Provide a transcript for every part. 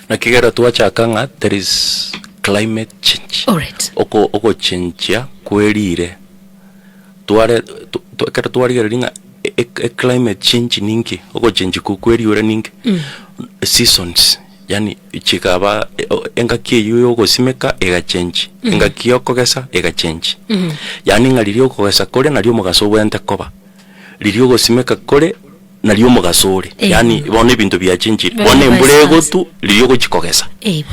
Naki ekero twachaka ng'a there is climate change, Alright. oko- ogochenchia kwe riire, tware twa- twa ekero twarigereria ng'a e- e- eclimate change ninki, ogochenchia ko- kwe riuura ninki, seasons, yaani chikaba e- o- engaki eyio ya ogosimeka egachenchia, engaki ya okogesa egachenchia. Yaani ng'a riria okogesa kore nario omogaso obwenerete koba, riria ogosimeka kore. naria omogaso ore, Eh. yaani bono ebinto biachenchire, Very bono nice embura answer. egotu riria ogochia kogesa, Eeh.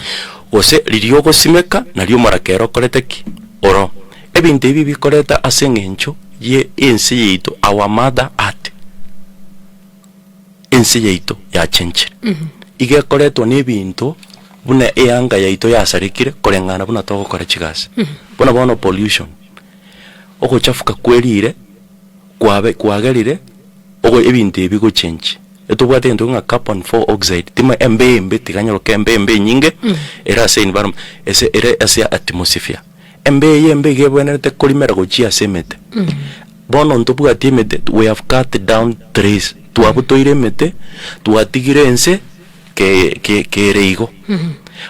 gose riria ogosimeka naria omoraka ere okorete ki? oro. Ebinto ebi bikorete ase eng'encho ye ense yaito, our mother earth. Ense yaito yachenchire, iga ekoretwa na ebinto buna eanga yaito yasarekire koreng'ana buna togokora chigasi, buna bono pollution, ogochafuka kwe riire. kwabe kwagerire ogo ebinto ebi bigochenchi. Etobwate egento ng'a carbon four oxide tima embe embe tiganyoroka embe embe enyinge ere ase environment ase ere ase atmosphere. Embe eye embe iga ebwenerete korimera gochia ase emete. Bono ntobwati emete we have cut down trees twabutoire emete twatigire ense ke ke kere igo.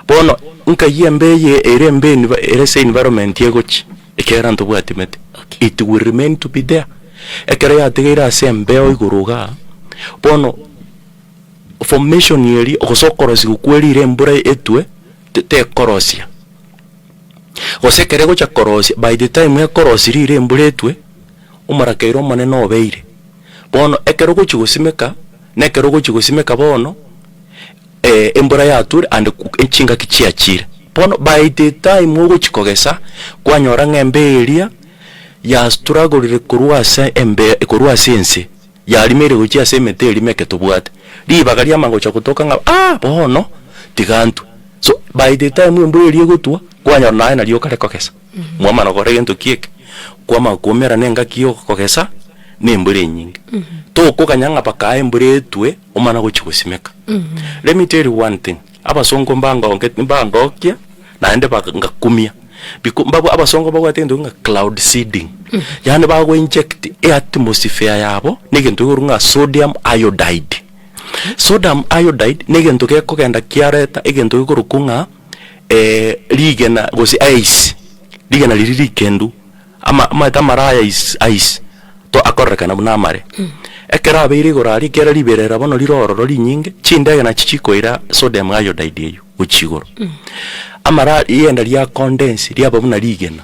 Bono nkayia embe eye ere embe envi ere ase environment egochi. Ekiagera ntobwati mete. Okay. It will remain to be there. Ekero yategeire ase embeo igoro iga, bono formation eri gose okorosigwa kwerire embura etwe te- tekorosia. Gose ekero egocha korosia by the time ekorosia rire embura etwe, omorakeire omonene obeire. Bono ekero ogochi gosimeka, nekero ogochi gosimeka bono. eh, embura yatwire ande ku- echingaki chiachire. Bono by the time ogochi kogesa kwanyora ng'a embe eria ya struggled korwa ase embe korwa ase ense yarimeire gochia ase emete erimo eke tobwate ribaga riamanya gocha gotoka ng'a ah bono tiga ntwe so by the time embura eria egotwa kwanyora naye naria okare kogesa. Mwamana gokora egento ki eke, kwamanya koumera nengaki y'ogokogesa, na embura enyinge. Tokoganya ng'a bakae embura etwe omana gochia gosimeka. Let me tell you one thing, abasongo mbangonge mbangokia naende baka ngakumia biko mbabwa abasongo mbabwate egento kegima cloud seeding, yaani bago inject eatmosphere yabo na egento kekorwa ng'a sodium iodide. Sodium iodide, na egento gekogenda kiareta egento gekorokwo ng'a. Ee, rigena, gose aise, rigena riria rikendu, ama, amaete amaro aya aise, aise, to akorerekana buna amare. Ekero abeire igoro aria, ekiagera riberera bono rire ororo rinyinge, chindege nachi chikoira Sodom Iodide eyio, gochia igoro. Amaro, rienda ria condense, riaba buna rigena.